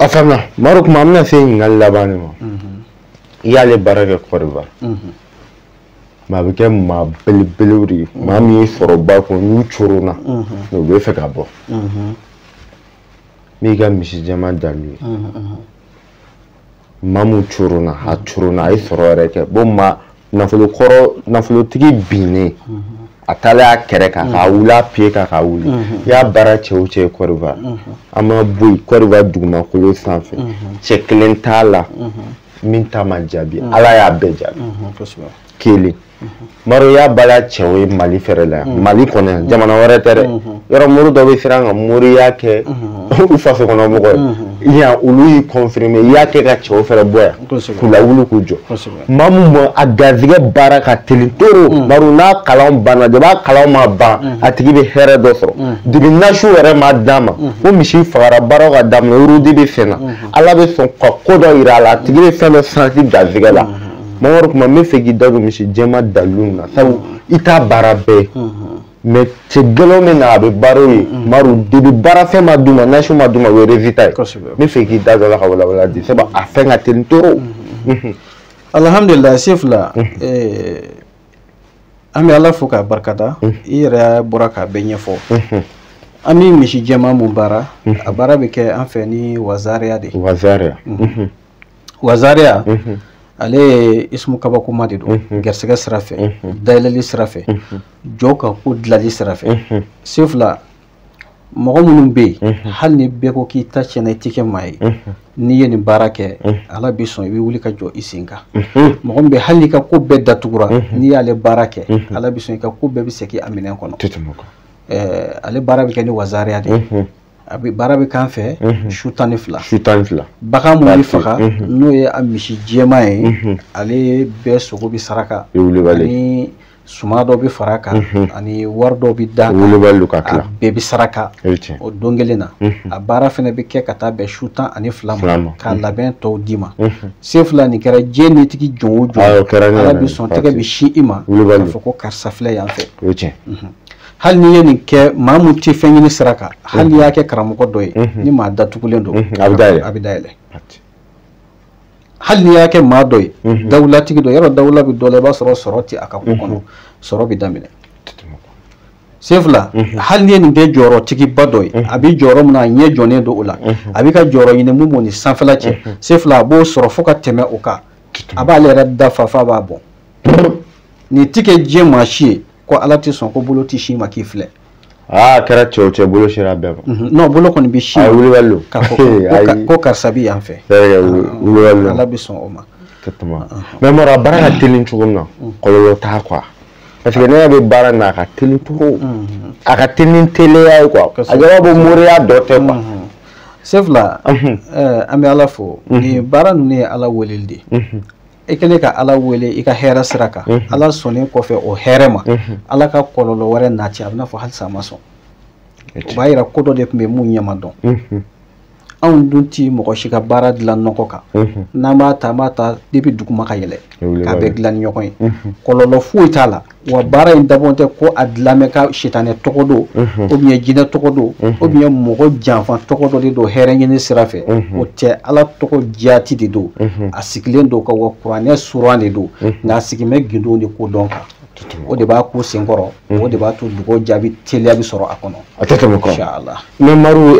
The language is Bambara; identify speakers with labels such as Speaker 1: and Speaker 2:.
Speaker 1: a faamuna maro kuma an bɛna se ɲininkali laban de ma i y'ale baara kɛ kɔriba mɛ a bɛ kɛ maa belebelew de ye maa min ye sɔrɔba kun n'u coronna n'u bɛ fɛ ka bɔ n'i ka misi jɛman dalilu ye maa min coronna a coronna a ye sɔrɔ yɛrɛ kɛ bon maa nafolo kɔrɔ nafolotigi binnen a dalen a kɛrɛ kan k'a wuli a piye kan k'a wuli i y'a baara cɛ o cɛ kɔriba an ma bɔ yen kɔriba dugumakolo sanfɛ cɛ kelen t'a la min ta ma jaabi ala y'a bɛɛ jaabi kelen maro y'a baara cɛw ye mali fɛrɛ la yan mali kɔnɔ yan jamana wɛrɛ tɛ dɛ yɔrɔ mori dɔ bɛ siran ka moriya kɛ u faso kɔnɔ mɔgɔ ye yan olu y'i confirmer i y'a kɛ ka cɛw fɛrɛ bɔ yan k'u lawuli k'u jɔ maa min ma a garizigɛ baara ka teli toro mm. maro n'a kalan banna de b'a kalan ma ban mm. a tigi bɛ hɛrɛ dɔ sɔrɔ mm. depi nasi yɛrɛ ma d'a ma o misi fagara baaraw ka daminɛ wurudi bɛ sen na mm-hmm. ala bɛ sɔn ka ko dɔ yira a la a tigi bɛ fɛn dɔ santi garizigɛ la mm-hmm. maro kuma n bɛ fɛ k'i da don misi jɛma dalilu na sabu i t'a baara bɛɛ mm-hmm. mɛ cɛ gɛlɛn min na a bɛ baara o ye mm. maru depi baarafɛn ma d'u ma nasi ma d'u ma o ye rezita ye n bɛ fɛ k'i da don o la ka walawala di sabu a fɛn ka teli toro mm-hmm. mm-hmm.
Speaker 2: alhamdulilayi se fila mm-hmm. eh, an bɛ ala fo k'a barikada i yɛrɛ bɔra k'a bɛɛ ɲɛfɔ an bɛ misi jɛman mun baara a baara bɛ kɛ an fɛ ni wazariya de ye wazariya wazariya ale ye ismu kabakoma de don garisɛgɛ sira fɛ dayɛlɛli sira fɛ jɔn ka ko dilali sira fɛ sen fila mɔgɔ minnu bɛ hali ni bɛɛ ko k'i ta tiɲɛna i tɛ kɛ maa ye n'i ye nin baara kɛ ala bɛ sɔn i bɛ wuli ka jɔ i sen kan mɔgɔ min bɛ hali n'i ka ko bɛɛ datugura n'i y'ale baara kɛ ala bɛ sɔn i ka ko bɛɛ bɛ segin a minɛn kɔnɔ ale baara bɛ kɛ ni wazariya de ye a bɛ baara bɛ k'an fɛ su tan ni fila bagan mun bɛ faga n'o ye a misi jɛma ye ale bɛɛ sogo bɛ saraka ani suman dɔ bɛ fara kan ani wari dɔ bɛ d'a kan bɛɛ bɛ saraka o don kelen na a baara fana bɛ kɛ ka taa bɛn su tan ani fila ma k'a labɛn tɔw d'i ma se fila nin kɛra diɲɛ nitigi jɔn o jɔn ala bɛ sɔn tɛgɛ bɛ sin i ma k'a fɔ ko karisa filɛ yan fɛ hali n'i ye nin kɛ maa mun tɛ fɛn ɲini sira kan hali n'i y'a kɛ karamɔgɔ dɔ ye ni maa datugulen don a bɛ dayɛlɛ a bɛ dayɛlɛ hali n'i y'a kɛ maa dɔ ye dawulatigi dɔ yɔrɔ dawula bɛ dɔ la i b'a sɔrɔ sɔrɔ tɛ a ka ko kɔnɔ sɔrɔ bɛ daminɛ sen fila hali n'i ye nin kɛ jɔyɔrɔtigiba dɔ ye a bɛ jɔyɔrɔ min na a ɲɛ jɔnen don o la a bɛ ka jɔyɔrɔ ɲini mun b'o ni sanfɛla cɛ sen fila a b'o sɔrɔ fo ka tɛmɛ o kan a b'ale yɛrɛ dafa f'a b'a bɔ nin ti kɛ diɲɛ maa si ye ko ala tɛ sɔn ko bolo tɛ s'i ma k'i filɛ aa ah,
Speaker 1: kɛra cɛw cɛ bolo sera bɛɛ ma mhm. non bolo kɔni
Speaker 2: bɛ se wulibali don k'a
Speaker 1: fɔ ko
Speaker 2: karisa bɛ yan fɛ ah, wulibali don
Speaker 1: ala bɛ sɔn o ma
Speaker 2: ka tɛmɛ mɛ
Speaker 1: mara baara ka teli cogo min na mm. kɔlɔlɔ t'a quoi parce que ne yɛrɛ bɛ baara na a ka teli cogo mm. a ka teli ni teliya ye quoi a jɔyɔrɔ bɛ moriya dɔ tɛ quoi mm. sefula
Speaker 2: mhm. eh, an bɛ ala fo mhm. nin baara ninnu ye ala weleli de ye i kɛlen ka ala wele i ka hɛrɛ sira kan ala sɔnnen kɔfɛ o hɛrɛ ma ala ka kɔlɔlɔ wɛrɛ nati a bɛna fɔ halisa a ma sɔn o b'a yira ko dɔ de tun bɛ mun ɲɛ ma dɔn anw dun ti mɔgɔ si ka baara dilan nɔgɔ kan n'an b'a ta an b'a ta depuis duguma ka yɛlɛ k'a bɛɛ dilan ni ɲɔgɔn ye kɔlɔlɔ foyi t'a la wa baara in dabɔ tɛ ko a dilan mɛ ka sitanɛ tɔgɔ do o bi yen jinɛ tɔgɔ do o bi yen mɔgɔ janfa tɔgɔ dɔ de do hɛrɛ ɲini sira fɛ o tɛ ala tɔgɔ jati de do a sigilen do ka wa kuranɛ suran de do nka a sigi mɛ gindo ni ko dɔn kan o de b'a ko senkɔrɔ o de b'a to dugawu
Speaker 1: jaabi
Speaker 2: teliya bɛ sɔrɔ a
Speaker 1: kɔnɔ
Speaker 2: a tɛ tɛmɛ
Speaker 1: kɔrɔ
Speaker 2: mɛ maru